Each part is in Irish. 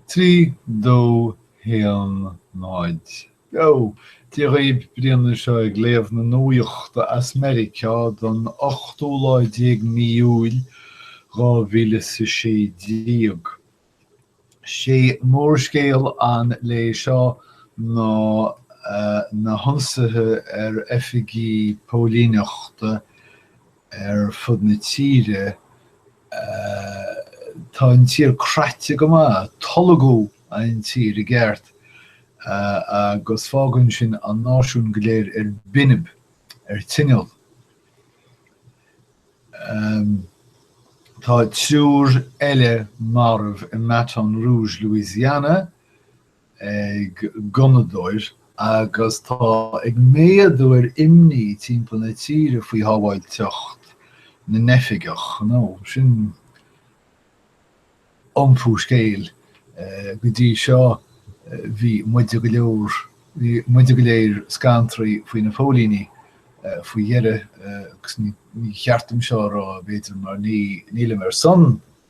3, 2, 1, 0, Beo! Dia dhaoibh, Brian anseo ag léamh na nuaíochta as Meiriceá don ochtú lá déag de mhí Iúil, dhá mhíle is a sé déag. Sé mórscéal an lae seo ná na hionsaithe ar oifigí póilíneachta ar fud na tíre. Tá an tír craite go maith, tolgadh an tír i gceart, agus fágann sin an náisiún go léir ar binb, ar tinneall. Tá triúr eile marbh i mBaton Rouge, Louisiana, ag gunnadóir agus tá ag méadú ar imní timpeall na tíre faoi shábháilteacht na n-oifigeach. Sin iompú scéil. Go dtí seo bhí muide go leor, bhí muide go léir scantraí faoi na póilíní. Faoi dheireadh, agus ní cheart dom seo a rá b'fhéidir mar nílim ar son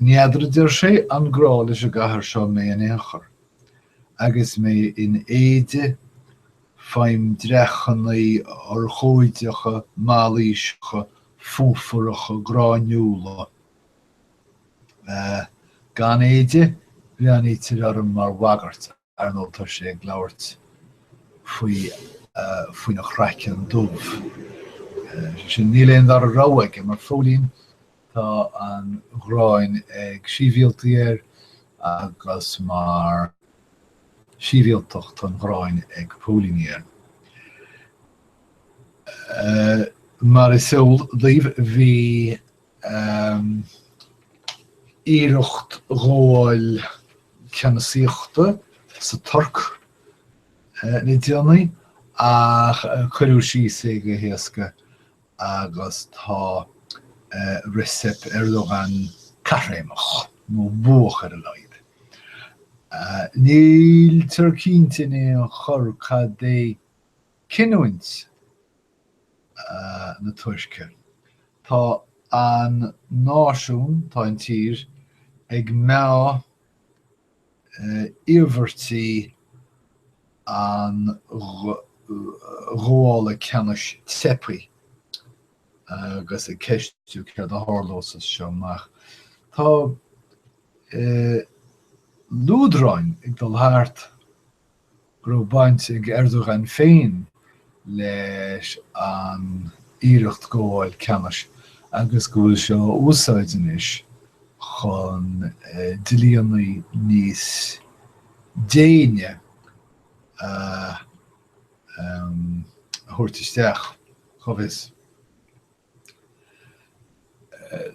N'fheadar, a deir sé, an grá leis an gcathair seo mé in aon chor. Agus mé in éide faighim dreachannaí urchóideacha mailíseacha fuafaracha gráinniúla, gan éide bhreathnaítear orm mar bhagairt. ar ndóigh, tá sé ag labhairt faoi, faoina chraiceann dubh. Is é sin, níl aon dara rogha aige mar phóilín, tá an ghráin ag sibhialtaigh air agus mar shibhialtach tá an ghráin ag póilíní air. Mar is eol daoibh, bhí ii, iarracht ghabháil ceannasaíochta sa Tuirc le déanaí, ach cuireadh síos é go héasca agus tá Recep Erdogan caithréimeach, nó buach ar a laghad. Níltear cinnte in aon chor cad é cinniúint na Tuirce. Tá an náisiún, tá an tír, ag meá iarmhairtí an ghabhála ceannais teipthe agus ag ceistiú céard a tharlós as seo amach. Tá luaidreáin ag dul thart. go raibh baint ag Erdogan féin leis an iarracht gabháil ceannais agus go bhfuil sé á úsáid anois chun dlíonnaí níos déine a thabhairt isteach. Cá bhfios?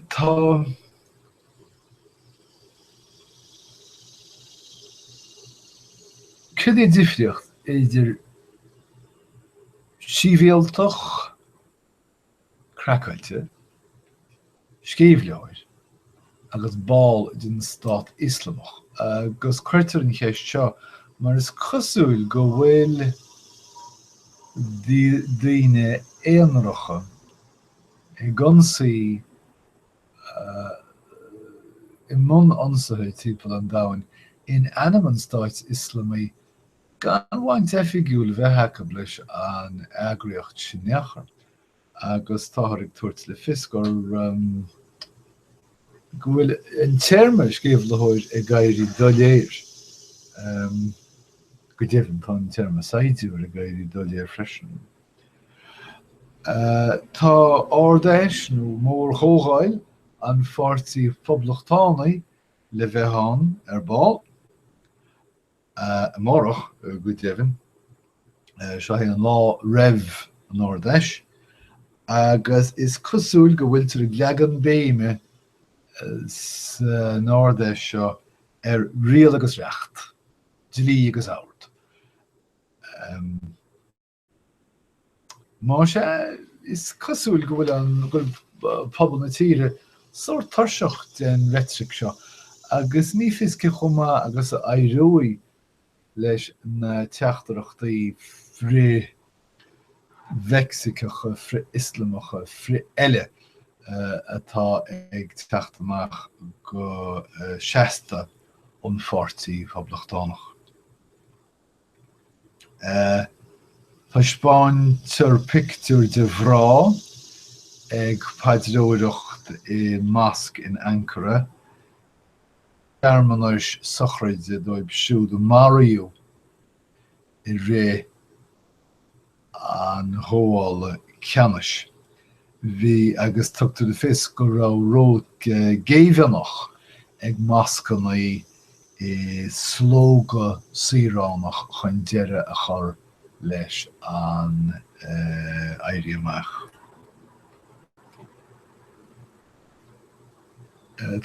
Tá, cad é an difríocht idir sibhialtach craiceáilte, sceimhlitheoir. agus ball den Stát Ioslamach, agus cuirtear an cheist seo mar is cosúil go bhfuil daoine aonaracha ag ionsaí i mbun ionsaithe timpeall an domhain in ainm an Stáit Ioslamaigh gan bhaint oifigiúil bheith acu leis an eagraíocht sin in aon chor. agus táthar ag tabhairt le fios gur, go bhfuil an téarma sceimhlitheoir ag éirí doiléir. Go deimhin, tá an téarma saighdiúir ag éirí doiléir freisin. Tá Ard-Fheis nó mór-chomhdháil an Pháirtí Phoblachtánaigh le bheith ann ar ball. amárach, go deimhin. Seo é an lá roimh an Ard-Fheis agus is cosúil go bhfuiltear ag leagan béime san Ard-Fheis seo ar riail agus reacht, dlí agus ord. Más ea, is cosúil go bhfuil an, go bhfuil pobal na tíre sórt tuirseach den reitric seo agus ní fios cé chomh maith agus a éireoidh leis na teachtaireachtaí frith-Mheicsiceacha, frith-Ioslamacha, frith-eile atá ag teacht amach go seasta ón pháirtí Phoblachtánach. Taispeáintear pictiúr de mhná ag paidreoireacht i Mosque in Ankara, searmanais sochraide dóibh siúd a maraíodh i rith an ghabháil ceannais. Bhí, agus tugtar le fios go raibh, ról géibheannach ag moscanna i slógadh saoránach chun deireadh a chur leis an éirí amach.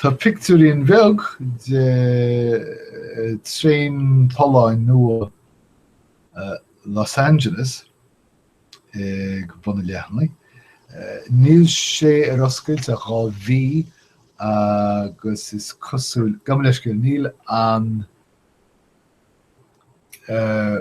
Tá pictiúirín bheag de thraein tolláin nua Los Angeles ag bun an leathanaigh. Níl sé ar oscailt ach dhá mhí agus is cosúil, gabh mo leithscéal, níl an eh,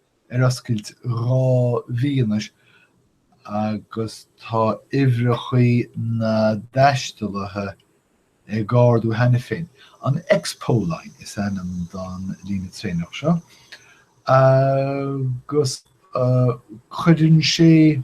ar oscailt dhá mhí anois agus tá uimhreachaí na dtaistealaithe ag ardú cheana féin. An Expo Line is ainm don líne traenach seo agus cuireann sé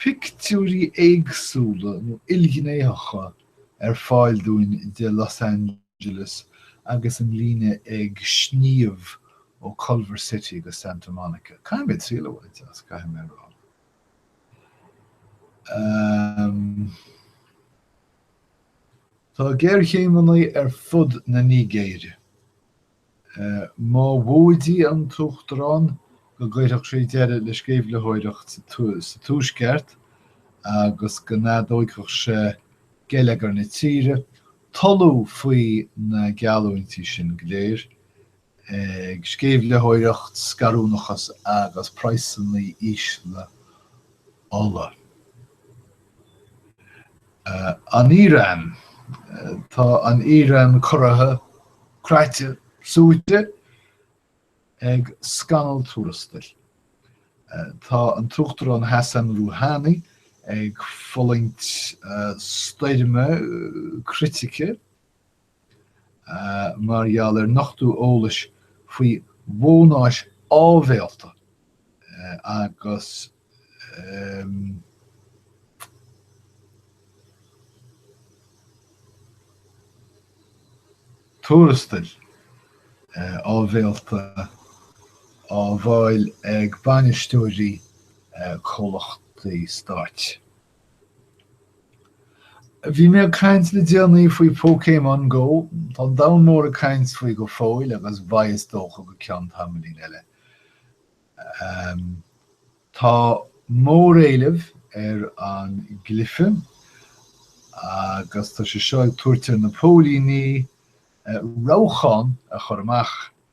pictiúirí éagsúla nó ilghnéitheacha ar fáil dúinn de Los Angeles. Angeles agus an líne ag sníomh ó Culver City go Santa Monica. Caithfidh mé triail a bhaint as, caithfidh mé a rá. Um, Tá géarchéimeannaí ar fud na Nigéire. Mhóidigh an tUachtarán go gcuirfeadh sé deireadh le sceimhlitheoireacht sa Tuaisceart agus go n-atógfadh sé geilleagar na tíre, tolladh faoi na geallúintí sin go léir, ag sceimhlitheoireacht, scarúnachas agus praghsannaí ísle ola. An Iran Tá an Iran corraithe, croite, suaite ag scannal tuarastail. Tá an tUachtarán Hassan Rouhani ag fulaingt stoirme critice. mar gheall ar nochtú eolais faoi bhónais áibhéalta agus tuarastail áibhéalta á bhfáil ag bainisteoirí comhlachtaí stáit. Bhí mé ag caint le déanaí faoi Pokémon Go. Tá an domhan mór ag caint faoi go fóill agus beidh is dócha go ceann tamaillín eile. Tá móréileamh ar an gcluiche agus tá sé seo ag tabhairt ar na póilíní rabhcháin a chur amach.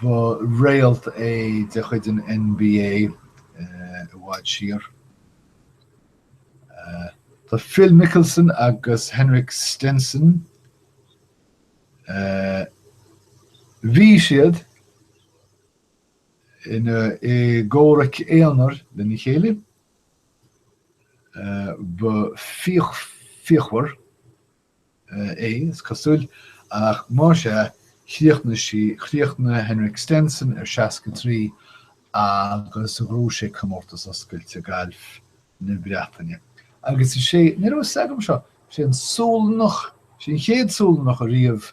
Ba réalt é de chuid an NBA i bhfad siar. Tá Phil Mickelson agus Henrik Stenson Bhí siad ina i gcomhrac aonair lena chéile. Ba fíochmhar. é, is cosúil, ach más ea, chríochnaigh sí, chríochnaigh Henrik Stenson ar 63 agus ghnóthaigh sé comórtas oscailte gailf na Breataine. Agus is é, ní raibh a fhios agam seo, is é an Sualannach, is é an chéad Sualannach ariamh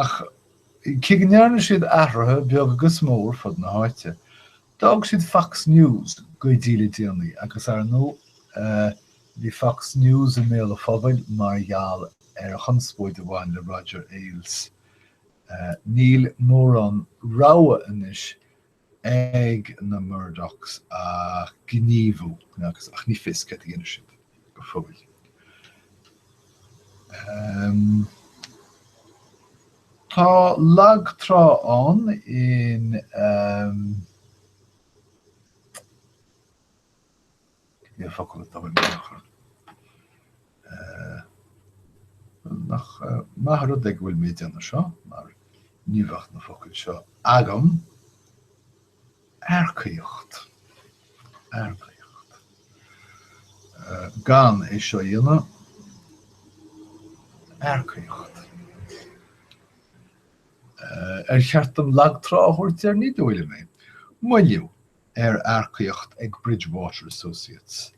Ach cé go ndearna siad athruithe, beag agus mór, fud na háite, d'fhág siad Fox News go dtí le déanaí agus, ar ndóigh, bhí Fox News i mbéal an phobail mar gheall ar an chonspóid a bhain le Roger Ailes. Níl mórán rogha anois ag na Murdochs ach gníomhú agus ach ní fios céard a dhéanfaidh siad go fóill. Tá lag trá ann in. An focal atá, bhfuil, ach nach maith rud é go bhfuil mé ag déanamh seo mar ní bheadh na focail seo agam. Earcaíocht. Earcaíocht. Gan é seo a dhéanamh, earcaíocht. Ar cheart dom lag trá a thabhairt air, ní dóigh liom é. Moilliú. ar earcaíocht ag Bridgewater Associates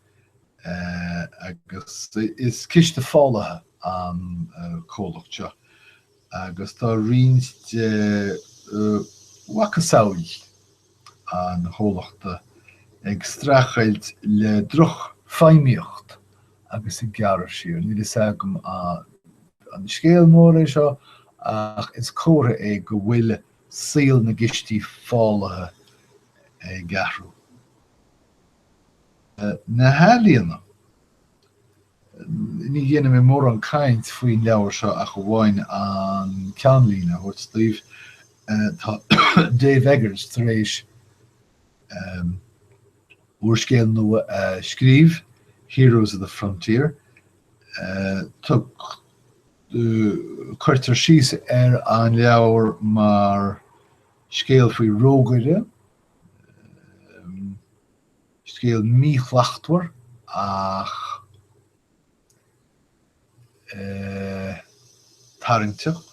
agus is ciste fálaithe an comhlacht seo agus tá roinnt de mhacasamhla an chomhlachta ag streachailt le drochfheidhmíocht agus ag gearradh siar. Níl a fhios agam an scéal mór é seo ach is comhartha é go bhfuil saol na gcistí fálaithe ag athrú. Na hEalaíona. Ní dhéanfaidh mé mórán cainte faoin leabhar seo ach amháin an ceannlíne a thabhairt daoibh, tá Dave Eggers tar éis úrscéal nua a scríobh, Heroes of the Frontier. Cuirtear síos ar an leabhar mar scéal faoi rógaire, scéal míshlachtmhar ach tarraingteach,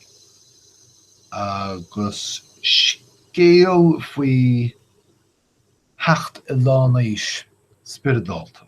agus scéal faoi theacht i lán aois spioradálta.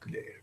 go léir.